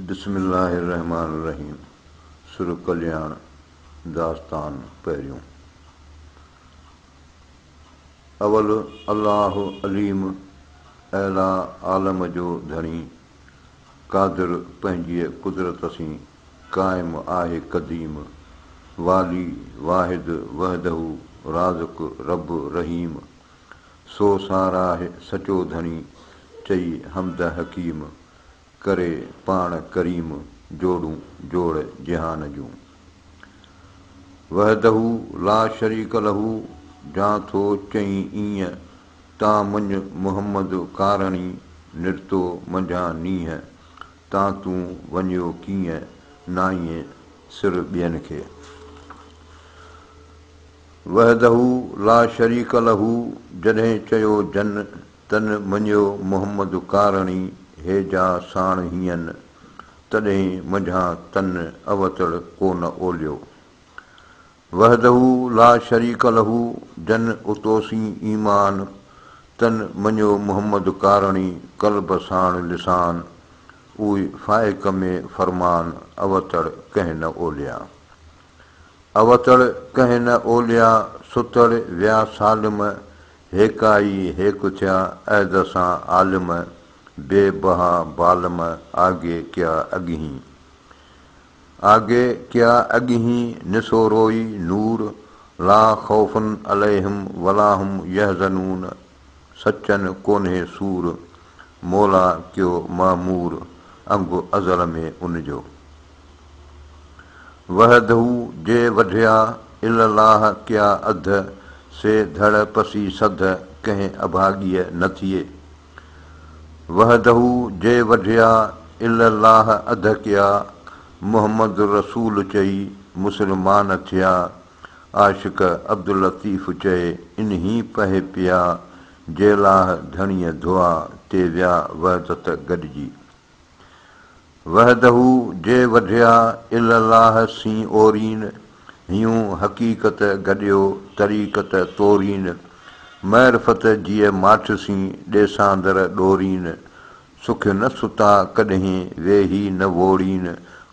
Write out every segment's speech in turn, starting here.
بسم الله الرحمٰن الرحيم سر ڪلياڻ داستان پهريون اول الله عليم اعليٰ عالم جو ڌڻي قادر پنهنجيء قدرت سين قائم آهي قديم والي واحد وحده رازق رب رحيم سو ساراهه سچو ڌڻي، چئي حمد حڪيم، ڪري پاڻ ڪريم، جوڙون جوڙ جهان جون. وحده لا شريڪ له، جان ٿو چئين اينء، تان منڄ محمد ڪارڻي، نرتو منجهان نينهن، تان تون وڃيو ڪينء، نائين سر ٻين کي. وحده لا شريڪ له جڏهن چيو جن تن مڃيو محمد ڪارڻي هي جا ساڻ هين تڏهين منجهان تن اوتڙ ڪو نه اوليو وحده لا شريڪ له جن اتوسين ايمان تن مڃيو محمد ڪارڻي قلب ساڻ لسان اوئي فائق ۾ فرمان اوتڙ ڪنهن نه اوليان. اوتڙ ڪنهن نه اوليا، ستڙ ويا سالم، هيڪا ئي هيڪ ٿيا عهد سان عالم، بي بها بالم، آگي ڪيا اڳهين. آگي ڪيا اڳهين نسوروئي نور، لا خوف عليهم ولاهم يحزنون، سچن ڪونهي سور، مولا ڪيو معمور انگ ازل ۾ ان جو. وحده جي وڍيا الاله ڪيا اڌ، سي ڌڙ پسي سڌ ڪنهن اڀاڳيء نه ٿئي. وحده جي وڍيا الاله اڌ ڪيا، محمد رسول چئي مسلمان ٿيا. عاشق عبداللطيف چئي انهي پهي پيا، جيلاهه ڌڻيء ڌئا، تي ويا وحدت گڏجي. وحده جي وڍيا، الالاهه سين اورين، هيون حقيقت گڏيو، طريقت تورين، معرفت جيء ماٺ سين، ڏيساندر ڏورين، سک نه ستا ڪڏهين، ويهي نه ووڙين،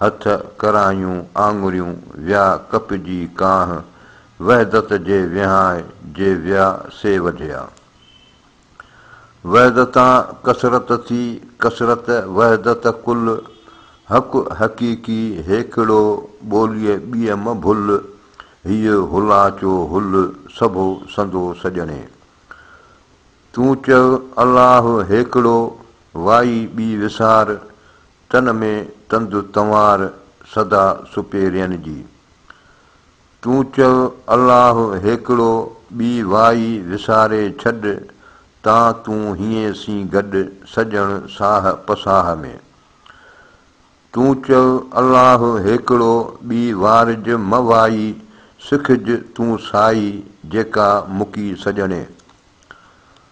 هٿ، ڪرايون، آڱريون، ويا ڪپجي ڪانه، وحدت جي وهانء جي ويا سي وڍيا. وحدتان ڪثرت ٿي، ڪثرت وحدت ڪل، حق حقيقي هيڪڙو، ٻوليء ٻيء م ڀل، هيء هلاچو هل، سڀو سندو سڄڻي. تون چئه الله هيڪڙو، وائي ٻي وسار، تن ۾ تند تنوار سدا سپيرين جي. تون چئو الله هيڪڙو ٻي وائي وساري ڇڏ تان تون هيئين سين گڏ سڄڻ ساهه پساهه ۾. تون چئو الله هيڪڙو ٻي وارج مه وائي سکج تون سائي جيڪا مڪي سڄڻي.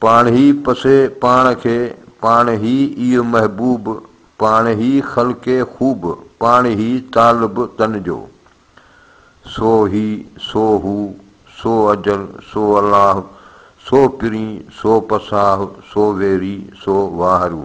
پاڻ هي پسي پاڻ کي، پاڻ هي ئي محبوب، پاڻ هي خلقي خوب، پاڻ هي طالب تن جو. سو هي، سو هو، سو اجل، سو الله، سو پرين، سو پساهه، سو ويري، سو واهرو.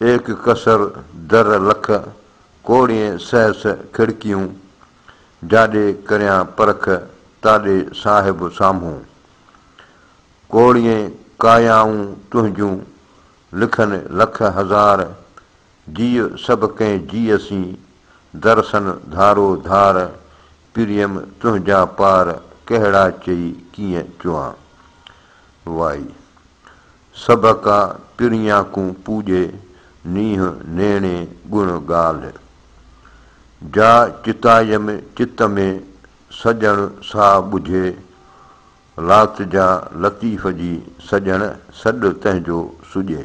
ايڪ ڪسر در لک، ڪوڙين سهس کڙڪيون. جاڏي ڪريان پرک، تاڏي صاحب سامهون. ڪوڙين ڪايائون تنهنجون، لکن لک هزار. جيء سڀ ڪنهن جيء سين، درسن ڌارو ڌار. پريم تنهنجا پار، ڪهڙا چئي ڪيئن چوان. وائي. سڀ ڪا ترڃاڪون پوڄي، نينهن نيڻي ڳڻ ڳالهه. جا چتايم چت ۾، سڄڻ سا ٻجهي، لات جا لطيف جي، سڄڻ سڏ تنهنجو سڄي.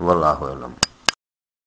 والله اعلم.